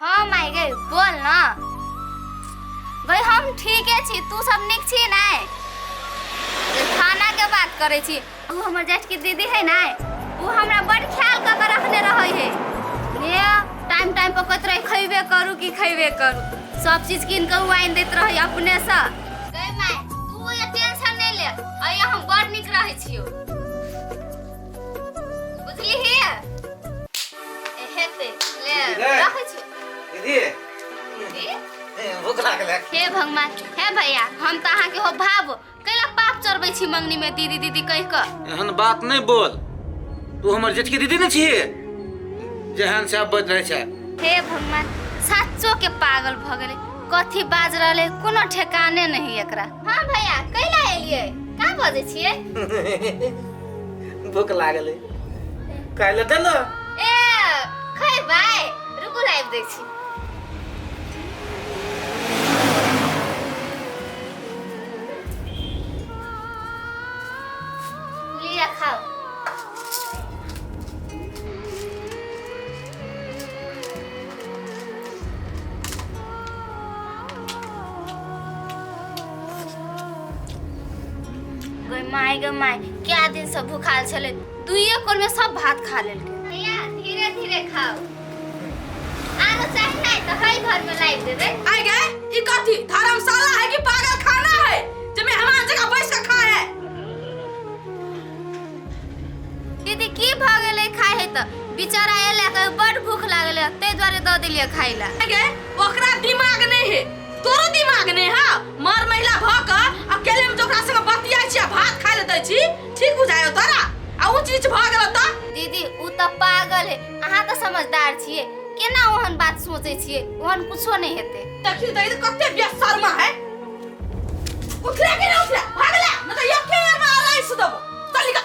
हँ माय गई बोल ना गई हम ठीके छी तू सब निक छी ना खाना के बात करे छी उ हमर जेठ की दीदी है ना उ हमरा बड़ ख्याल क के रखने रहे है ने टाइम टाइम पर कहत रहे खइबे करू कि खइबे करू सब चीज किन के उ आइन देत रहे अपने से गई माय तू ये टेंशन नहीं ले अय हम बड़ निक रहे छियो बुझली है भूख लागल हे भगवान हे भैया हम तऽ अहाँके हो भाव कैला पाप चढ़बै छी मंगनी में दीदी दीदी कहि कऽ एहन बात नहीं बोल तू हमर जेठ की दीदी नहीं छी जेहन से आप बज रहे छे हे भगवान साचो के पागल भ गेले कथी बाज रहले कोनो ठेकाने नहीं एकरा हाँ भैया कैला एलिए का बजै छियै भूख लागल है खाय ले दे ना ए खै भाई रुकू लाइव देख छी लिया खाओ गई माय गई माय क्या दिन सब भूखाल छले दुइये कोर में सब भात खा लेलके भैया धीरे धीरे खाओ आरो चाहे नहीं तो हई घर में लाई देबे आय गए ई कथी धर्मशाला है कि पागल खाना है जमे हमार जगह बैठ के खा है दीदी की भ गेले खाए है त बेचारा एला के बड़ भूख लागले ते द्वारे द देलिए खाइला आय गए ओकरा दिमाग नहीं है तोरो दिमाग ने है मर महिला भ क अकेले में जोकरा संग बतियाई छी आ भात खाय ले दै छी ठीक बुझायो तोरा आ उ चीज भ गेल त दीदी उ त पागल है अहाँ त समझदार छियै केना ओहन बात सोचै छियै ओहन कुछो नहि हेतै देखियो त ई कते बेशर्मा है उठले के ना उठले भागले न त यके मार लाइस देबो चल निकल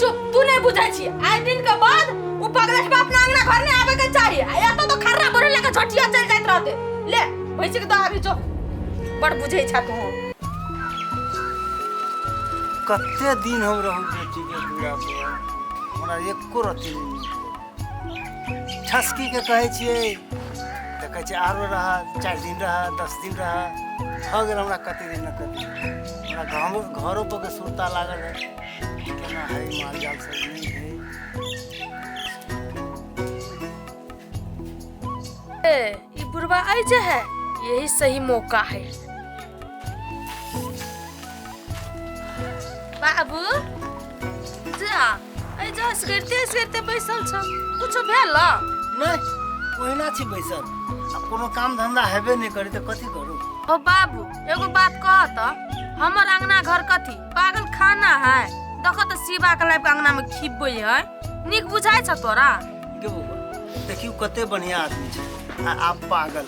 चुप तू नहीं बुझे छी आइ दिन के बाद उ पगलट बाप ना अंगना घर नहीं आवे के चाही आ या तो तो खर्रा बोले लेके झटिया चल जात रहते ले भैंसी के दवा भी जो बड़ बुझे छा तू कते दिन हम रहू बेटी के पूरा पूरा हमरा एको रति नहि मिलल। ठसकी के कहै छियै तऽ कहै छै आरो रह चारि दिन रह दस दिन रह भऽ गेल हमरा कते दिन ने कते दिन। हमरा गाँव घरो पर के सुरता लागल है केना हय माल जाल सब नहि हय ए, ई बुढ़वा आई जे है यही सही मौका है बाबू जा ऐ जा असगरते असगरते बैसल छ कुछो भेल न? नहि ओहिना छी बैसल आ कोनो काम धंधा हेबे नहि करी तऽ कथी करू ओ बाबू एगो बात कह त हमर अंगना घर कथी पागल खाना है देखो तो शिवा के लाइफ अंगना में खिबे है निक बुझाय छ तोरा के बौआ देखियो कते बढ़िया आदमी छै आ आप पागल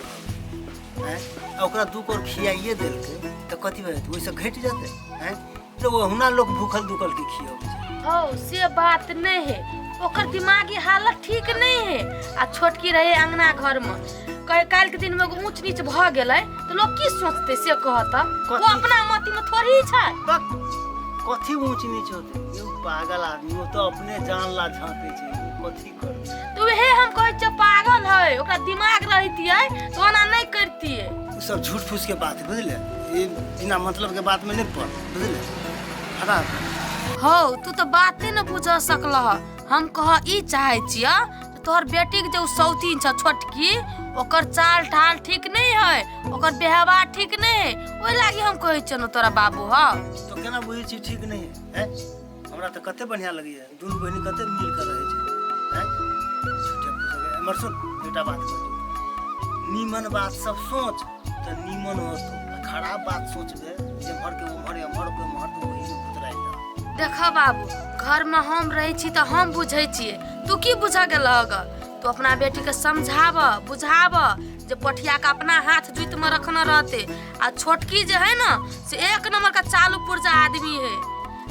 हैं आ ओकरा दू कोर खियाइए देलकै तऽ कथी भए जेतै ओहिसँ घटि जेतै हैं तऽ ओहुना लोक भूखल दुखल के खियबै छै हो से बात नहीं है ओकर दिमागी हालत ठीक नहीं है आ छोटकी रहे अंगना घर में कहे काल्हि के दिन में एगो ऊंच नीच भ गेलै तो लोग की सोचते से कहता वो कथी? अपना मति में थोड़ी छै बक, कथी ऊंच नीच होते यौ पागल आदमी ओ तो अपने जान ला झांके छै ओ कथी करते तो वहे हम कहै छियै पागल है ओकरा दिमाग रहतियै तो ओना नहीं करतियै उ सब झूठ फूस के बात है बुझले ये बिना मतलब के बात में नहीं पड़ बुझले हटा हौ तू तो बाते न बुझ सकलह हम कह ई चाहे छियै तोहर बेटी के जे उ सौतीन छ छोटकी ओकर चाल ढाल ठीक नहीं है ओकर व्यवहार ठीक नहीं है ओहि लागी हम कहै छियौ ने तोरा बाबू ह तो केना बुझै छी ठीक नहीं है हैं? हमरा तो कते बढ़िया लगैया दुनू बहिनी कते मिल के रहै छै हैं? छोटे पुजगै। एमर सुन एकटा बात कहै छी। नीमन बात सब सोच तऽ नीमन वस्तु आ खराब बात सोचबे एम्हर के ओम्हर एम्हर के ओम्हर तऽ ओही में गुजराइ जा देख बाबू घर में हम रहे छी तो हम बुझे छिए तू की बुझ गेल अगर तू अपना बेटी के समझाब बुझाब जे पठिया के अपना हाथ जुत में रखना रहते आ छोटकी जे है ना से एक नंबर का चालू पुर्जा आदमी है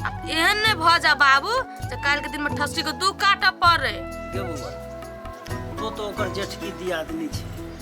आ एहन नहीं भ जा बाबू जे काल के दिन में ठस्सी के दू काटा पड़े के बौआ तो तो ओकर जेठकी दियादनी छै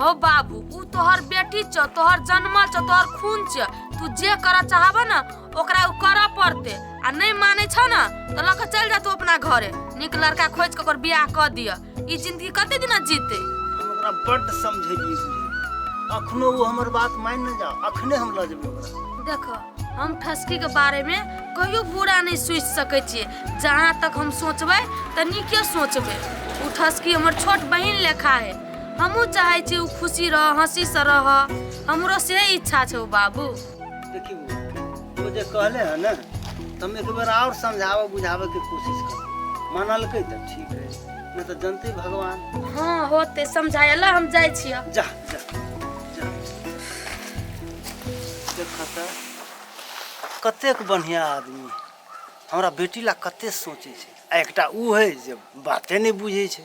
हो बाबू ऊ तोहर बेटी छ तोहर जन्मल छ तोहर खून छ तू जे करऽ चाहबऽ न ओकरा ऊ करऽ पड़ते आ नहीं माने छ न तो लऽ के चल जा तू अपना घरे नीक लड़का खोज के ओकर बियाह कर दिय ई जिंदगी कते दिना जीते हम ओकरा बड्ड समझेलियै बुझेलियै अखनो ओ हमर बात मानि नहि जा अखने हम लऽ जेबै ओकरा देखो हम ठसकी के बारे में कहियो बुरा नहीं सोच सके छिए जहाँ तक हम सोचबे त नीके सोचबे ऊ ठसकी हमर छोट बहिन लेखा है हमहूँ चाहै छी ओ खुशी रह हँसीसँ रह हमरो से इच्छा छौ बाबू देखी बौआ, ओ जे कहले है ना त हम एक बेर और समझावे बुझावे के कोशिश कर मानलकै त ठीक है नहीं तो जनते भगवान हाँ होते समझाय ला हम जाइ छियै जा जा जा देखा त कतेक बढ़िया आदमी है। हमरा बेटी ला कते सोचे छै आ एकटा ऊ है जे बाते नहीं बुझे छै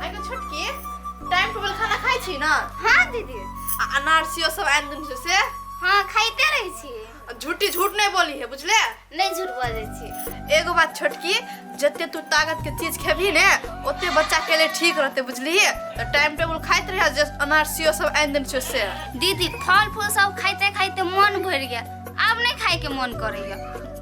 आइके छोटकी टाइम टेबल खाना खाइ छी ने हाँ दीदी आ अनारसियो सब आनि देने छै से हाँ खाइते रहै छी आ झूठी झूठ नहि बोली है बुझले नहि झूठ बजै छी एगो बात छोटकी जते तू ताकत के चीज खेबही ने ओते बच्चा के लिए ठीक रहते बुझली तो टाइम टेबल खाइत रहे जे अनारसियो सब आनि देने छै से दीदी फल फूल सब खाइते खाइते मन भरि गेल आब नहि खाइके मन करैया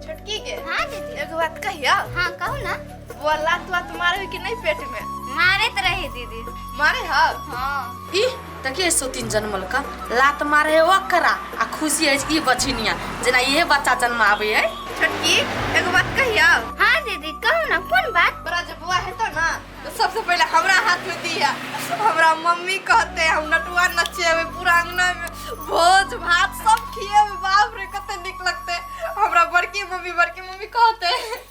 छोटकी के हाँ दीदी एगो बात कहिया हाँ कहू ना वो लातवा तुम्हारे के नहीं पेट में मारत रही दीदी मारे हा हाँ ई देखिए सोतिन जनमल का लात मारे है ओकरा आ खुशी है ई बछिनिया जेना इहे बच्चा जन्म आवे है छोटकी एगो बात कहियो हाँ दीदी कहू ना कौन बात बड़ा जब बुआ है तो ना तो सबसे पहले हमरा हाथ में दिया हमरा मम्मी कहते हम नटुआ नचेबे पूरा अंगना में भोज भात सब खिएबे बाप रे कते निक लगते हमरा बड़की मम्मी बड़की मम्मी कहते